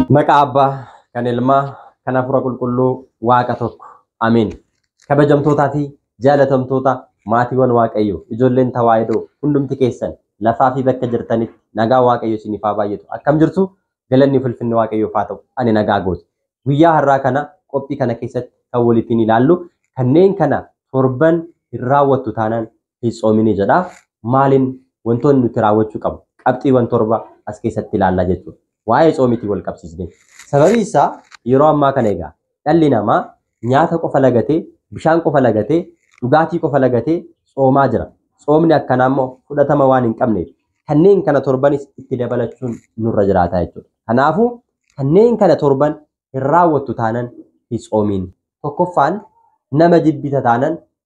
Maqaa Abbaa, kan Ilmaa, kan Hafuura Qulqulluu Waaqa tokko. Ameen. Kabajamtootaa fi jaalatamtoota maatiiwwan Waaqayyoo, ijoolleen Tawaahidoo hundumti keessan lafaa fi bakka jirtanitti nagaa Waaqayyo isiniif haa baay'atu. Akkam jirtu? Galanni ulfinni Waaqayyoof haa ta'u. Ani nagaa gooti. Guyyaa har'aa kana qophii kana keessatti kan walitiin ilaallu kanneen kana torban hin raawwattu taanaan hin tsoominii jedha. Maaliin wantoonni nuti raawwachuu qabnu qabxiiwwan torba as keessatti ilaallaa jechuudha. Waa'ee tsoomiitiin wal qabsiisnee. Sababii isaa yeroo ammaa kana egaa dhalli namaa nyaata qofa lagatee, bishaan qofa lagatee, dhugaatii qofa lagatee tsoomaa jira. Tsoomni akkanaa immoo fudhatama waan hin qabneef kanneen kana torbanis itti dabalachuun nurra jiraata jechuudha. Kanaafuu kanneen kana torban hin raawwattu taanan hin tsoomiin. Tokkoffaan nama jibbita taanan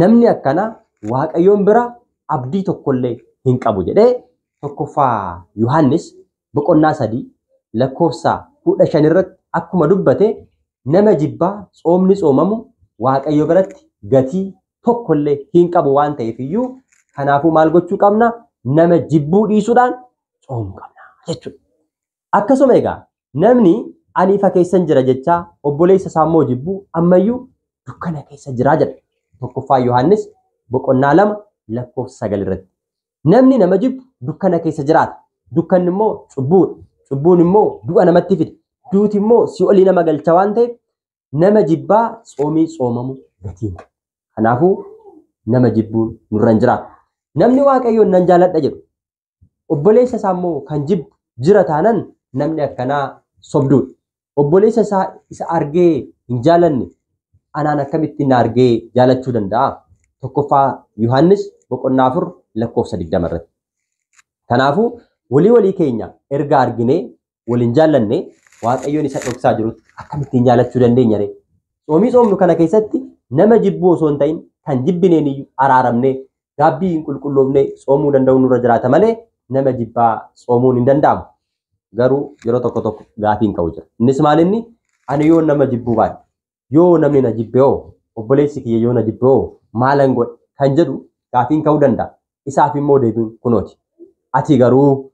Namni akkanaa Waaqayyoon bira abdii tokkollee hin qabu jedhee tokkoffaa Yohaannis boqonnaa sadii lakkoofsa kudha shan irratti akkuma dubbate nama jibbaa tsoomni tsoomamu Waaqayyo biratti gatii tokkollee hin qabu waan ta'eef iyyuu kanaafuu maal gochuu qabna? Nama jibbuu dhiisuudhaan tsoomuu qabna jechuudha. Akkasuma egaa namni ani ifa keessan jira jechaa obboleessa isaa immoo jibbu ammayyuu dukkana keessa jira jedha. Tokkoffaa Yohaannis boqonnaa lama lakkoofsa sagal irratti. Namni nama jibbu dukkana keessa jiraata. Dukkanni immoo cubbuudha. Cubbuun immoo du'a namatti fida. Duuti immoo si'olii nama galcha waan ta'eef nama jibbaa tsoomii tsoomamu gatiin. Kanaafuu nama jibbuun nurra hin jiraatu. Namni waaqayyoon nan jaaladha jedhu obboleessa isaa immoo kan jibbu jira taanan namni akkanaa sobduudha. Obboleessa isaa isa argee hin jaalanne anaan akkamitti na argee jaalachuu danda'a? Tokkoffaa Yohaannis boqonnaa afur lakkoofsa digdama irratti. Kanaafuu walii walii keenya erga arginee wal hin jaallanne waaqayyoon isa dhoksaa jirutti akkamittiin jaalachuu dandeenya ree? Tsoomii tsoomnu kana keessatti nama jibbuu osoo hin ta'in kan jibbineen iyyuu araaramnee gaabbii hin qulqulloofnee tsoomuu danda'uun nurra jiraata malee nama jibbaa tsoomuun hin danda'amu. Garuu yeroo tokko tokko gaafiin ka'u jira. Innis maal inni? Ani yoo nama jibbuu baadhe yoo namni na jibbe hoo obboleessi kiyya yoo na jibbe hoo maalan godhe kan jedhu gaafiin ka'uu danda'a. Isaaf immoo deebiin kunooti. Ati garuu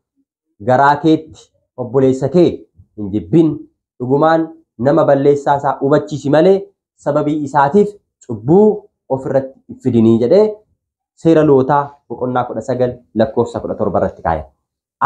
garaa keetti obboleessa kee hin jibbin dhugumaan nama balleessaa isaa hubachiisi malee sababii isaatiif cubbuu ofirratti hin fidinii jedhee seera lootaa boqonnaa 19 lakkoofsa 17 irratti kaa'e.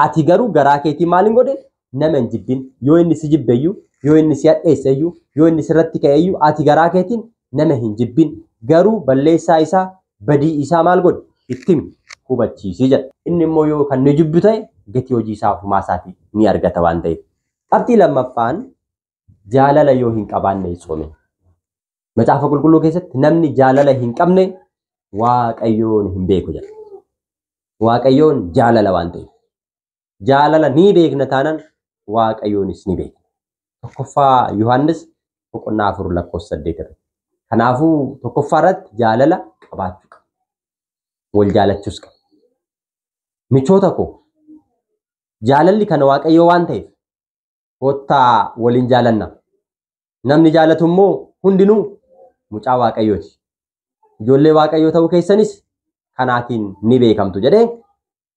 Ati garuu garaa keetii maal hin godhin nama hin jibbin. Yoo inni si jibbeyyuu, yoo inni si hadheesseyyuu, yoo inni sirratti ka'eyyuu ati garaa keetiin nama hin jibbin. Garuu balleessaa isaa, badii isaa maal godhi? Itti himi, hubachiisi jedha. Inni immoo yoo kan nu jibbu ta'e gatii hojii isaa ofumaa isaatii ni argata waan ta'eef. Qabxii lammaffaan jaalala yoo hin qabaanne hin soomin. Macaafa qulqulluu keessatti namni jaalala hin qabne waaqayyoon hin beeku jedha. Waaqayyoon jaalala waan ta'eef. Jaalala ni beekna taanaan waaqayyoonis ni beekna. Tokkoffaa Yohaannis boqonnaa afur lakkoofsa saddeet irratti. Kanaafuu tokkoffaa irratti jaalala qabaachuu qaba. Wal jaalachuus qaba. Michoota koo jaalalli kan waaqayyoo waan ta'eef Koottaa waliin jaalanna. Namni jaalatu immoo hundinuu mucaa Waaqayyooti. Ijoollee Waaqayyoo ta'uu keessanis kanaatiin ni beekamtu jedhee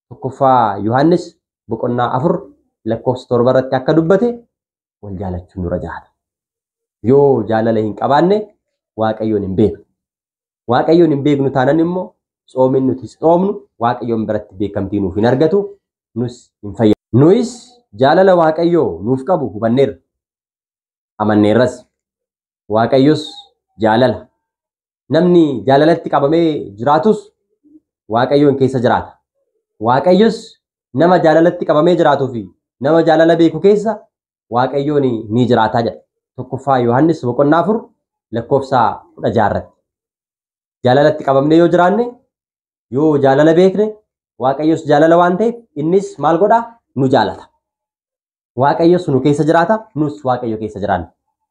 tokkoffaa Yohaannis boqonnaa afur lakkoofsa torba irratti akka dubbate wal jaalachuun nurra jiraata. Yoo jaalala hin qabaanne Waaqayyoon hin beeknu. Waaqayyoon hin beeknu taanan immoo tsoomiin nuti tsoomnu Waaqayyoon biratti beekamtii nuuf hin argatu nus hin fayyadu. Nuyis jaalala Waaqayyoo nuuf qabu hubanneerra. Amanneerras. Waaqayyos jaalala. Namni jaalalatti qabamee jiraatus Waaqayyoon keessa jiraata. Waaqayyos nama jaalalatti qabamee jiraatuu fi nama jaalala beeku keessa Waaqayyoon ni jiraataa jedha. Tokkoffaa Yohaannis boqonnaa afur lakkoofsa kudha jaha irratti. Jaalalatti qabamnee yoo jiraanne yoo jaalala beekne Waaqayyos jaalala waan ta'eef innis maal godhaa nu jaalata. Waaqayyos nu keessa jiraata nus Waaqayyo keessa jiraanna.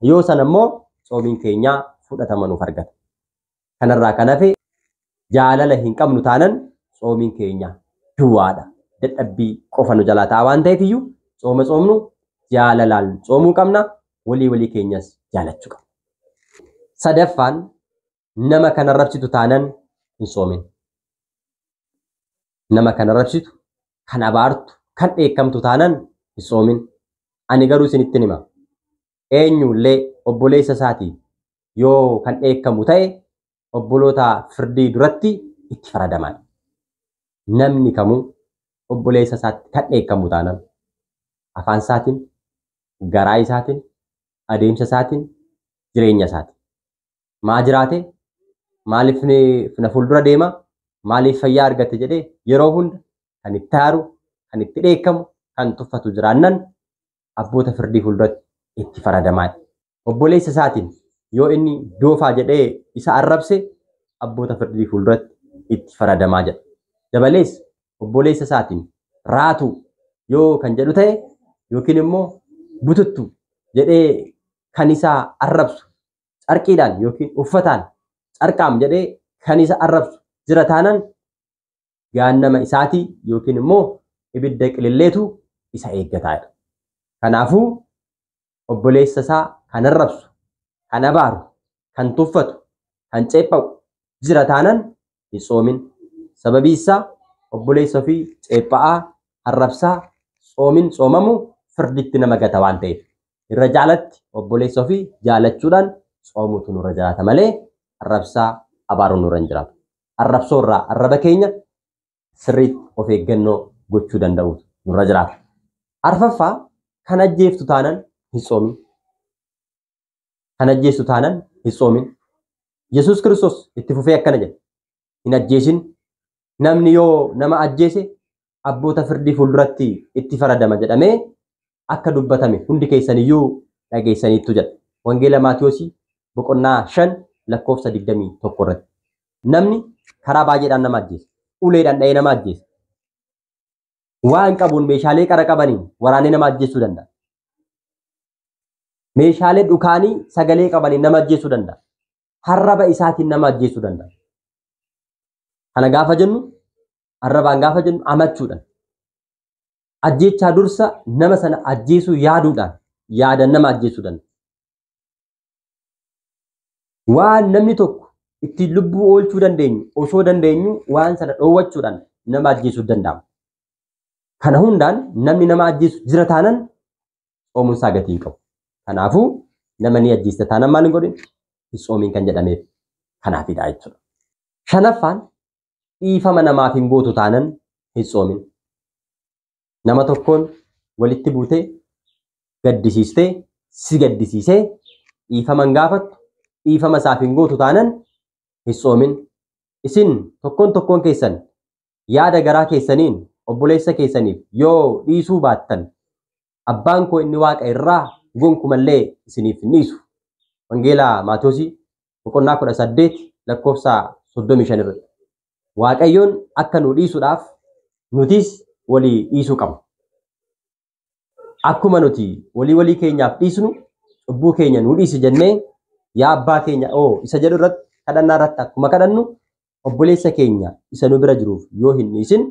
Yoo sana immoo tsoomiin keenya fudhatama nuuf argata. Kanarraa kan hafe jaalala hin qabnu taanan tsoomiin keenya duwwaadha. Dadhabbii qofa nu jalaa ta'a waan ta'eef iyyuu tsooma tsoomnu jaalalaan tsoomuu qabna. Walii walii keenyas jaalachuu qabna. Sadaffaan nama kan arrabsitu taanan hin tsoomin. Nama kan arrabsitu, kan abaartu, kan dheekkamtu taanan hin tsoomin. Ani garuu isinittin hima. eenyullee obboleessa isaatiin yoo kan dheekkamu ta'e obboloota firdii duratti itti faradamaan. Namni kamuu obboleessa isaatti kan dheekkamu taanaan afaan isaatiin, garaa isaatiin, adeemsa isaatiin, jireenya isaatiin. Maa jiraate? Maaliif na fuuldura deema? Maaliif fayyaa argate jedhee yeroo hunda kan itti aaru, kan itti dheekkamu, kan tuffatu jiraannan abboota firdii fuulduratti itti faradamaadha. Obboleessa isaatiin yoo inni doofaa jedhee isa arrabse abboota firdii fuulduratti itti faradamaa jedha. Dabalees obboleessa isaatiin raatuu yoo kan jedhu ta'e yookiin immoo bututtu jedhee kan isaa arrabsu carqiidhaan yookiin uffataan carqaam jedhee kan isa arrabsu jira taanan gaannama isaatii yookiin immoo ibidda qililleetu isa eeggataa dha. Kanaafuu obboleessa isaa kan arrabsu, kan abaaru, kan tuffatu, kan ceepha'u jira taanan hin tsoomin. Sababii isaa obboleessa ofii ceepha'aa, arrabsaa, tsoomin tsoomamu firditti nama gata waan ta'eef. Irra jaalatti obboleessa ofii jaalachuudhaan tsoomuutu nurra jiraata malee arrabsaa abaaruun nurra hin jiraatu. arrabsoo irraa arraba keenya sirriitti of eeggannoo gochuu danda'uutu nurra jiraata. Arfaffaa kan ajjeeftu taanan hin soomin. Kan ajjeestu taanan hin soomin. Yesuus Kiristoos itti fufee akkana jedha. Hin ajjeesin. Namni yoo nama ajjeese abboota firdii fuulduratti itti faradama jedhamee akka dubbatame hundi keessaniyyuu dhageessaniittu jedha. Wangeela Maatiyoosii boqonnaa 5 lakkoofsa 21 irratti. Namni karaa baay'eedhaan nama ajjeesa. Uleedhaan dha'ee nama ajjeesa. Waan qabuun meeshaalee qara qabaniin waraanee nama ajjeesuu danda'a. Meeshaalee dhukaanii sagalee qabaniin nama ajjeesuu danda'a. Harraba isaatiin nama ajjeesuu danda'a. Kana gaafa jennu arrabaan gaafa jennu amachuudhaan ajjeechaa dursa nama sana ajjeesuu yaaduudhaan yaadan nama ajjeesuu danda'a. Waan namni tokko ittiin lubbuu oolchuu dandeenyu osoo dandeenyu waan sana dhoowwachuudhaan nama ajjeesuu danda'ama. Kana hundaan namni nama ajjeesu jira taanan soomuun isaa gatii hin qabu. Kanaafuu nama ni ajjeesta taanan maal hin godhin hin soomiin kan jedhameef kanaafidha jechuudha. Shanaffaan dhiifama namaaf hin gootu taanan hin soomin. Nama tokkoon walitti buutee gaddisiistee si gaddisiisee dhiifama hin gaafattu dhiifama isaaf hin gootu taanan hin soomin. Isin tokkoon tokkoon keessan yaada garaa keessaniin obboleessa keessaniif yoo dhiisuu baattan abbaan koo inni waaqa irraa gonkumallee isiniif hin dhiisu. Wangeela Maatosii boqonnaa 18 lakkoofsa 35 irratti. Waaqayyoon akka nu dhiisuudhaaf nutis walii dhiisuu qabna. Akkuma nuti walii walii keenyaaf dhiisnu cubbuu keenya nu dhiisi jennee yaa abbaa keenya oo isa jedhu irratti kadhannaa irratti akkuma kadhannu obboleessa keenya isa nu bira jiruuf yoo hin dhiisin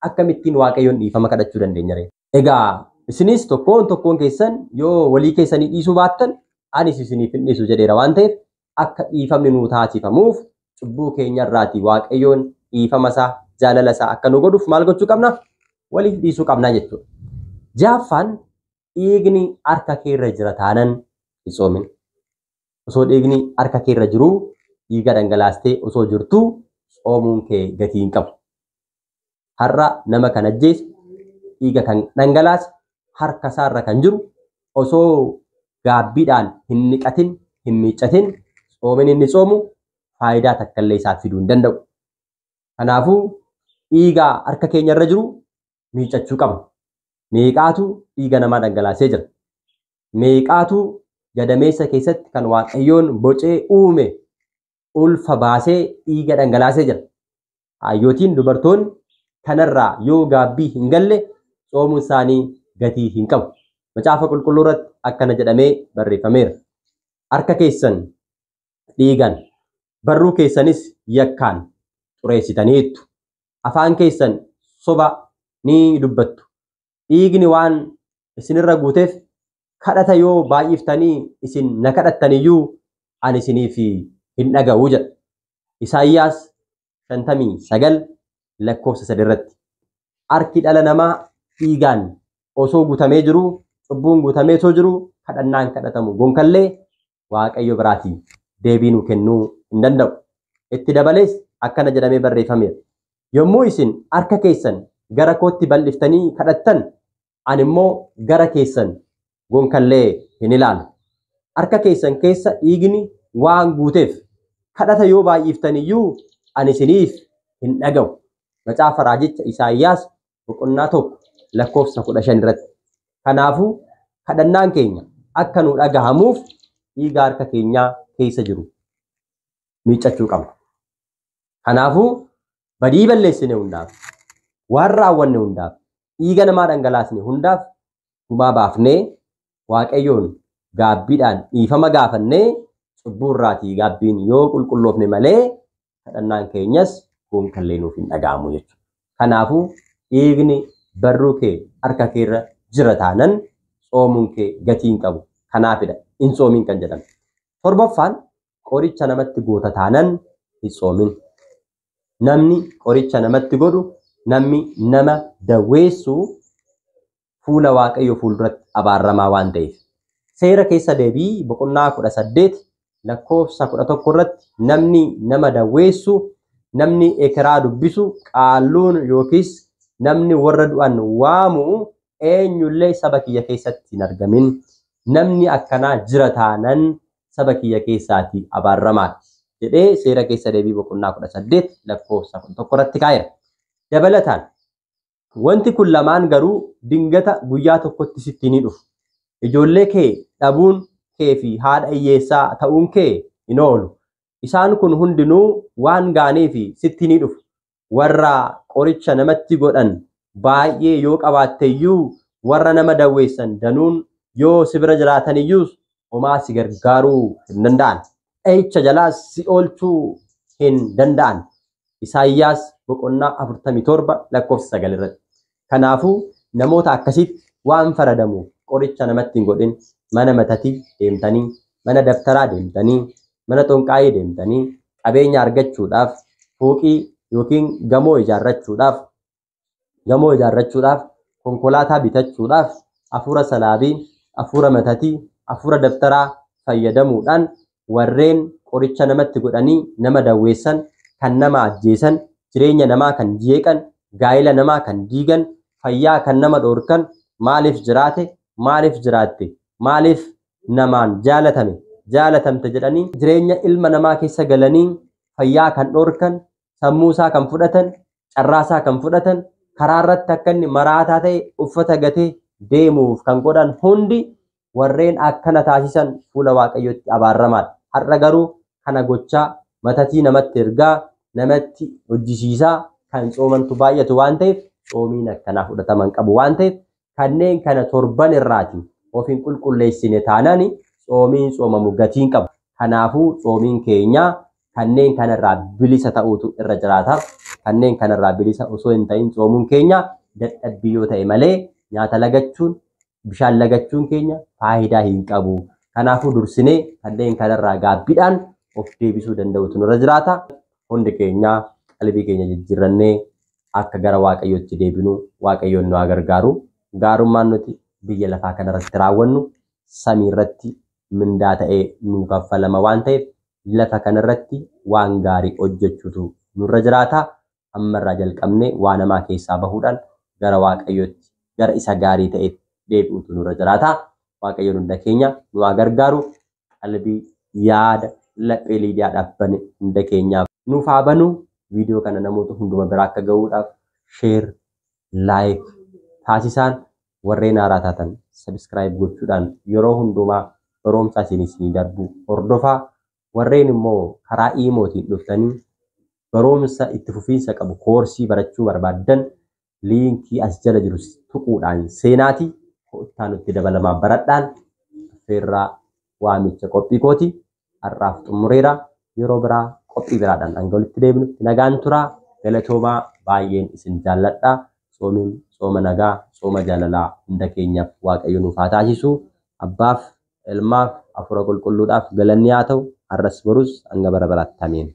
akkamittiin waaqayyoon dhiifama kadhachuu dandeenya ree? Egaa isinis tokkoon tokkoon keessan yoo walii keessanii dhiisuu baattan anis isiniif hin dhiisu jedheera waan ta'eef akka dhiifamni nuu taasifamuuf cubbuu keenya irraati waaqayyoon dhiifama isaa jaalala isaa akka nu godhuuf maal gochuu qabna waliif dhiisuu qabna jechuudha. Jaaffaan dhiigni harka keerra jira taanan hin soomin. Osoo dhiigni harka keerra jiru dhiiga dhangalaastee osoo jirtu soomuun kee gatii hin qabu. Har'a nama kan ajjeese, dhiiga kan dhangalaase, harka isaarra kan jiru osoo gaabbiidhaan hin dhiqatin, hin miiccatin tsoomini inni tsoomu faayidaa takkallee isaaf fiduu hin danda'u. Kanaafuu dhiiga harka keenya irra jiru miiccachuu qabna. Meeqaatu dhiiga namaa dhangalaasee jira. Meeqaatu gadameessa keessatti kan Waaqayyoon bocee uume ulfa baasee dhiiga dhangalaasee jira. Hayyootiin dubartoonni kanarraa yoo gaabbii hin galle tsoomuun isaanii gatii hin qabu. Macaafa qulqulluu irratti akkana jedhamee barreeffameera. Harka keessan dhiigaan, barruu keessanis yakkaan xureessitaniittu. Afaan keessan soba ni dubbattu. dhiigni waan isinirra guuteef kadhata yoo baay'iftanii isin na kadhattaniyyuu ani isiniif hin dhaga'u jedha. Isaayyaas 59 lakkoofsa 3 irratti. Harki dhala namaa dhiigaan osoo guutamee jiruu, cubbuun guutamee osoo jiruu kadhannaan kadhatamu gonkallee Waaqayyo biraatii deebii nuu kennuu hin danda'u. Itti dabalees akkana jedhamee barreeffameera. Yommuu isin harka keessan gara kootti bal'iftanii kadhattan, ani immoo gara keessan gonkallee hin ilaalu. Harka keessan keessa dhiigni waan guuteef kadhata yoo baay'iftan iyyuu ani isiniif hin dhaga'u. Macaafa raajicha Isaayyaas boqonnaa tokko lakkoofsa kudha shan irratti. Kanaafuu kadhannaan keenya akka nu dhagahamuuf dhiiga harka keenyaa keessa jiru miiccachuu qabna. Kanaafuu badii balleessine hundaaf waan raawwanne hundaaf dhiiga namaa dhangalaasne hundaaf gumaa baafnee waaqayyoon gaabbiidhaan dhiifama gaafannee cubbuu irraatii gaabbiin yoo qulqulloofne malee kadhannaan keenyas gonkallee nuuf hin dhaga'amu jechuudha. Kanaafuu dhiigni barruu kee harka kee irra jira taanan tsoomuun kee gatii hin qabu. Kanaafidha hin tsoomin kan jedhame. Torbaffaan qoricha namatti goota taanan hin tsoomin. Namni qoricha namatti godhu namni nama daweessu fuula Waaqayyoo fuulduratti abaarramaa waan ta'eef. Seera keessa deebii boqonnaa 18 lakkoofsa 11 irratti namni nama dawweessu, namni ekeraa dubbisu, qaalluun yookiis namni warra du'an waamu eenyullee saba kiyya keessatti hin argamin. Namni akkanaa jira taanan saba kiyya keessaati abaarramaadha. jedhee seera keessa deebii boqonnaa 18 lakkoofsa 11 irratti kaa'eera. Dabalataan Wanti kun lamaan garuu dingata guyyaa tokkotti sitti hin dhufu. Ijoollee kee dhabuun kee fi haadha hiyyeessaa ta'uun kee hin oolu. Isaan kun hundinuu waan gaanii fi sitti hin dhufu. Warra qoricha namatti godhan baay'ee yoo qabaatte iyyuu warra nama dawweessan danuun yoo si bira jiraatan iyyuus homaa si gargaaruu hin danda'an. dha'icha jalaas si oolchuu hin danda'an. Isaayyaas boqonnaa 47 lakkoofsa 9 irratti. Kanaafuu namoota akkasitti waan faradamu qoricha namatti hin godhin mana matatii deemtanii, mana dabtaraa deemtanii, mana xonqaayii deemtanii qabeenya argachuudhaaf fooqii yookiin gamoo ijaarrachuudhaaf gamoo ijaarrachuudhaaf, konkolaataa bitachuudhaaf afuura salaabii, afuura matatii, afuura dabtaraa fayyadamuudhaan warreen qoricha namatti godhanii nama dawweessan, kan nama ajjeesan, jireenya namaa kan jeeqan, gaa'ila namaa kan diigan, fayyaa kan nama dhoorkan maaliif jiraate, maaliif jiraatte, maaliif namaan jaalatame, jaalatamte jedhanii jireenya ilma namaa keessa galanii fayyaa kan dhoorkan, sammuu isaa kan fudhatan, carraasaa kan fudhatan karaa irratti akka inni maraataa ta'e uffata gatee deemuuf kan godhan hundi warreen akkana taasisan fuula waaqayyootti abaarramaadha. Har'a garuu kana gochaa matatii namatti ergaa namatti hojjisiisaa kan coomantu baay'atu waan ta'eef coomiin akkanaa fudhataman qabu waan ta'eef kanneen kana torban irraati of hin qulqulleessine taanaan tsoomiin tsoomamu gatiin qabu. Kanaafuu tsoomiin keenya kanneen kanarraa bilisa ta'uutu irra jiraata. Kanneen kanarraa bilisa osoo hin ta'in tsoomuun keenya dadhabbii yoo ta'e malee nyaata lagachuun bishaan lagachuun keenya faayidaa hin qabu. Kanaafuu dursinee kanneen kanarraa gaabbidhaan of deebisuu danda'uutu nurra jiraata. hundi keenya qalbii keenya jijjiirrannee akka gara waaqayyootti deebinu waaqayyoon nu haa gargaaru gaarummaan nuti biyya lafaa kanarratti raawwannu samii irratti mindaa ta'ee nuu kaffalama waan ta'eef lafa kanarratti waan gaarii hojjechuutu nurra jiraata ammarraa jalqabnee waan hamaa keessaa bahuudhaan gara waaqayyootti gara isa gaarii ta'etti deebi'uutu nurra jiraata waaqayyoon hunda keenya nu haa gargaaru qalbii, yaada, laphee Liidiyaadhaaf bane hunda keenyaaf. nuuf haa banu. Viidiyoo kana namoota hunduma bira akka gahuudhaaf share, like taasisaan warreen haaraa taatan subscribe gochuudhaan yeroo hundumaa baroomsaa isin isinii darbu hordofaa. Warreen immoo karaa iimootiin dhuftanii baroomsa itti fufiinsa qabu koorsii barachuu barbaaddan liinkii as jala jiru tuquudhaan seenaati koottaa nutti dabalamaa baradhaan affeerraa waamicha qophii kooti har'aaf xumureera yeroo biraa qophii biraadhaan hanga walitti deebinutti nagaan turaa galatoomaa baay'een isin jaalladha soomiin sooma nagaa sooma jaalalaa hunda keenyaaf waaqayyo nuuf haa taasisu abbaaf Ilmaaf, Hafuura Qulqulluudhaaf galanni haa ta'u, har'as borus hanga bara baraatti. Ameen.